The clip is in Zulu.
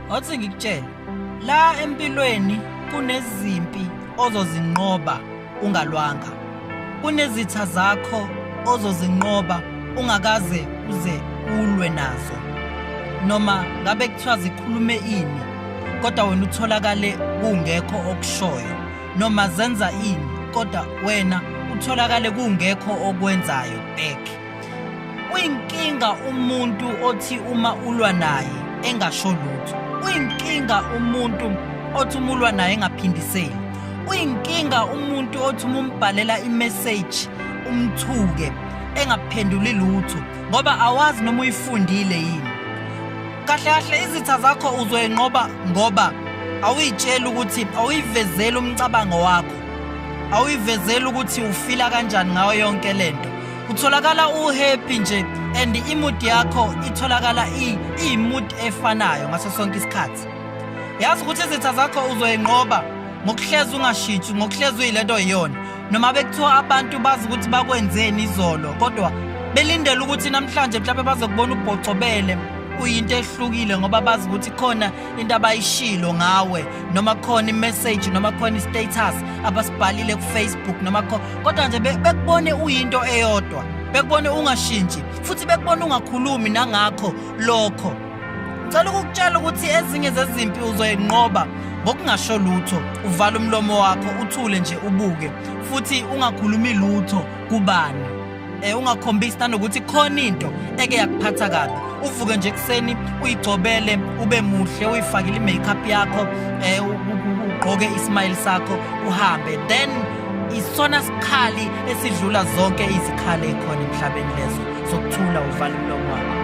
Wathi ngikutshela la empilweni kunezimpi ozozinqoba ungalwanga. Kunezitha zakho ozozinqoba ungakaze uze ulwe nazo. Noma ngabe kuthiwa zikhulume ini kodwa wena utholakale kungekho okushoyo noma zenza ini kodwa wena utholakale kungekho okwenzayo back. Uyinkinga umuntu othi uma ulwa naye engasho lutho. Uyinkinga umuntu othi uma ulwa naye engaphindiseli. Uyinkinga umuntu othi uma umbhalela i-message umthuke engaphenduli lutho ngoba awazi noma uyifundile yini. Kahle kahle izitha zakho uzoyinqoba ngoba awuyitsheli ukuthi awuyivezeli umcabango wakho awuyivezeli ukuthi ufila kanjani ngayo yonke lento Utholakala uhappy nje and imood yakho itholakala iyimood efanayo ngaso sonke isikhathi. Yazi ukuthi izitha zakho uzoyinqoba ngokuhlezi ungashitshi ngokuhlezi uyilento yiyona noma bekuthiwa abantu bazi ukuthi bakwenzeni izolo kodwa belindele ukuthi namhlanje mhlawumbe bazokubona ubhocobele uyinto ehlukile ngoba bazi ukuthi khona into abayishilo ngawe noma khona imessage noma khona istatus abasibhalile kufacebook noma kho kodwa nje bekubone uyinto eyodwa bekubone ungashintshi futhi bekubone ungakhulumi nangakho lokho ngicela ukukutshela ukuthi ezinye zezimpi uzoyinqoba ngokungasho lutho uvala umlomo wakho uthule nje ubuke futhi ungakhulumi lutho kubani Eh ungakhombisi nanokuthi khona into eke yakuphatha kabi. Uvuke nje kuseni uyigcobele ube muhle uyifakile imakeup yakho eh ugqoke ismile sakho uhambe then isona sikhali esidlula zonke izikhali ekhona emhlabeni lezo sokuthula uvala umlomo wakho